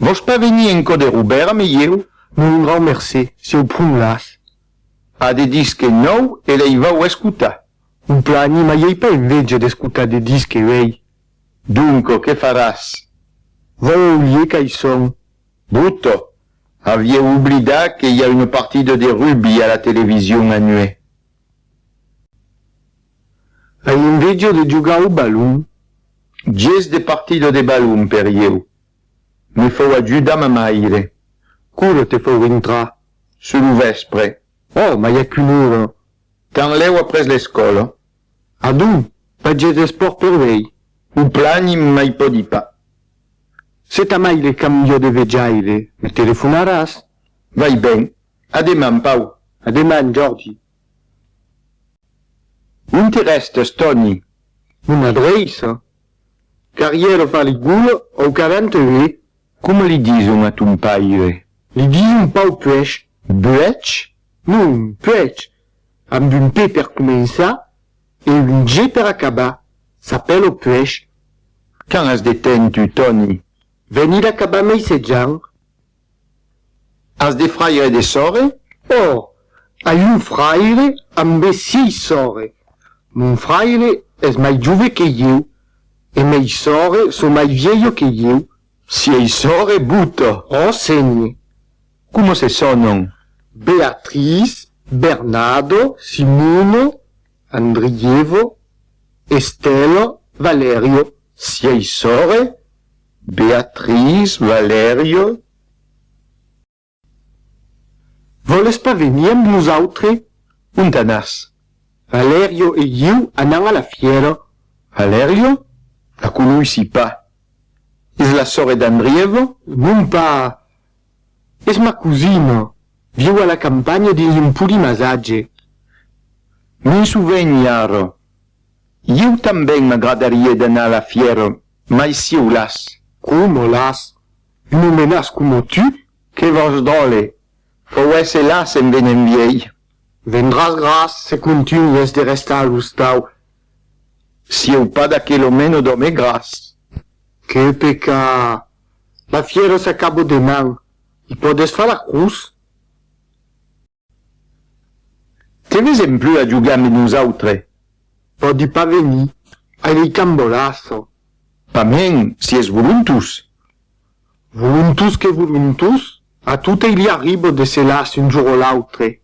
Vòs pas venir en cò de Robèrt a me ieu? Non, un grau mercé, si au pron las. A de disque nòu e lei vau escotar. Un plan anima iei pas enveja d'escotar de disque uei. Donco, que faràs? Vau au lieu qu'ai son. Bruto, avieu oblidat que i a una partida de rugbi a la television anuè? Ai enveja de jogar au balon. Ges de partida de balon per ieu. Me fau ajudar ma maire. Qu'ora te fau rintrar? Sur lo vèspre. Oh, mai a qu'una ora. Tanlèu après l'escòla. Adonc, pas ges d'espòrt per vei? O plan i mai pòdi pas. Se ta maire cambia de vejaire, me telefonaràs? Vai ben. A deman, Pau. A deman, Jordi. Non te rèstes, Tòni? Mon adreiça? Qu'arrière far li gola au quaranta ue? Coma li dison a ton paire? Li dison Pau Puech. Buech? Non, Puech, amb un P per començar e un G per acabar. S'apèla Puech. Quand as de temps, tu, Tòni? Venir acabar meisejant. As de fraire de sòrre? Ò! ai un fraire ambé siei sòrre. Mon fraire es mai jove que ieu, e mei sòrre so mai vielho que ieu. Siei sòrre Buto? Ò, sénhe. Coma se sònon? Beatriz, Bernado, Simono, Andriievo, Estelo, Valerio. Siei sòrre? Beatriz Valerio Vòles pas venir amb nosautre? Ont anas? Valerio E ieu anam a la fièra. Valerio La conoissi pas. Es la sòrre d'Andrièva? Non pas! Es ma cosina, viu a la campanha dins un podi masatge. M'en sovenhi ara. Ieu tanben m'agradarie d'anar a la fièra. Mai si o las. Como las. Un omenas como tu? Que vos dòle! Fòu èsse las en venent viei. Vendràs gras se contunhes de restar a l'ostau. Sieu pas d'aquel omeno d'òme gras. Que peca! La fièra s'acabò deman. I pòdes far la crus? Que vesèm plus a jogar mes nosautres. Pòdi pas venir, ai ei cambolàso. Pamèn, si es volontós. Volontós que volontós, a totei li arribo de se las un jour o l'autre.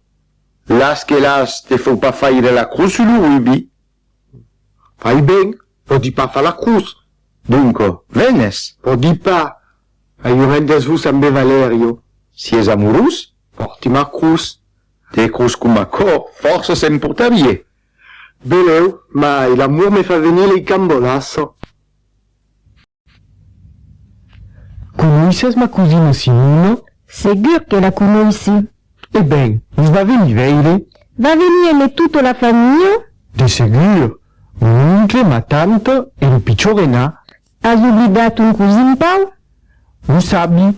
Las que las, te fau pas faire la crus sus lo rubi. Fai ben, pòdi pas far la crus. Donco, venes? Pòdi pas, ai un rendez-vous ambe Valerio. Si es amorós, Portimar cruz, de cruz coma còr, fòrça se'n portarie. Velèu, mai l'amor me fa venir lei cambolas. Conoisses ma cosina Simona? Segur que la conoissi. E ben, vos va venir veire? Va venir e me tota la familha? De segur, mon oncle, ma tanta e lo pichor Enà, As oblidat ton cosin Pau? Lo sabi,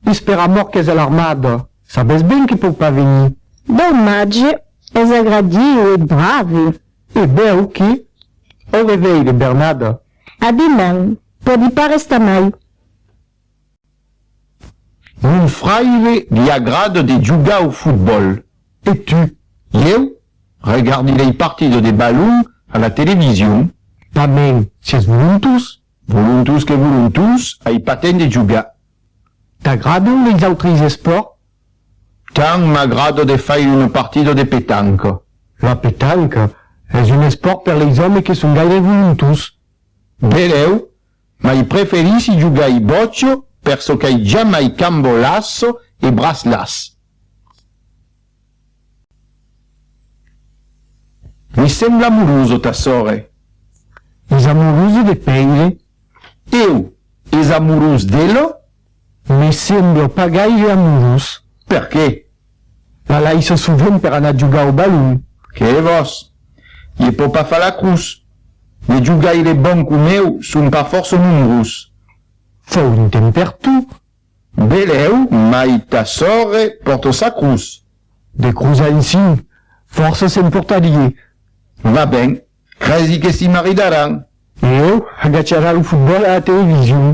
es per amor qu'es a l'armada, sabes ben que pòu pas venir. Domatge, es agradiu e brave. E bèu que? Au reveire, Bernada. A deman, pòdi pas restar mai. Mon fraire li agrada de jogar au fotbòl. E tu? Ieu? Regardi dei partidos de balon a la television. Tanben, sies volontós. Volontós que volontós, ai pas temps de jogar. T'agradan leis autres espòrts? Tant m'agrada de faire una partida de petanca. La petanca es un espòrt per leis òmes que son gaire volontós. Benèu, Mai preferissi jogai boccio per çò qu'ai jamai cambo lasso e bras las. Mi sembla amuroso ta sore. Es amuroso de Peire? Eu es amorós d'elo? Me sembla pas gaire amorós. Per qué? La laissa sovent per anar jogar au balon. Qué vòs? Ie pò pas far la crus. De jogaires bons com eu son pas fòrça nombrós. Fau un temps per tu. Belèu, mai ta sòrre pòrta sa crus. De crus ansin, fòrça se'n pòrtarie. Va ben. Cresi que s'i maridaràn? Leo agacharà lo fotbòl a la television.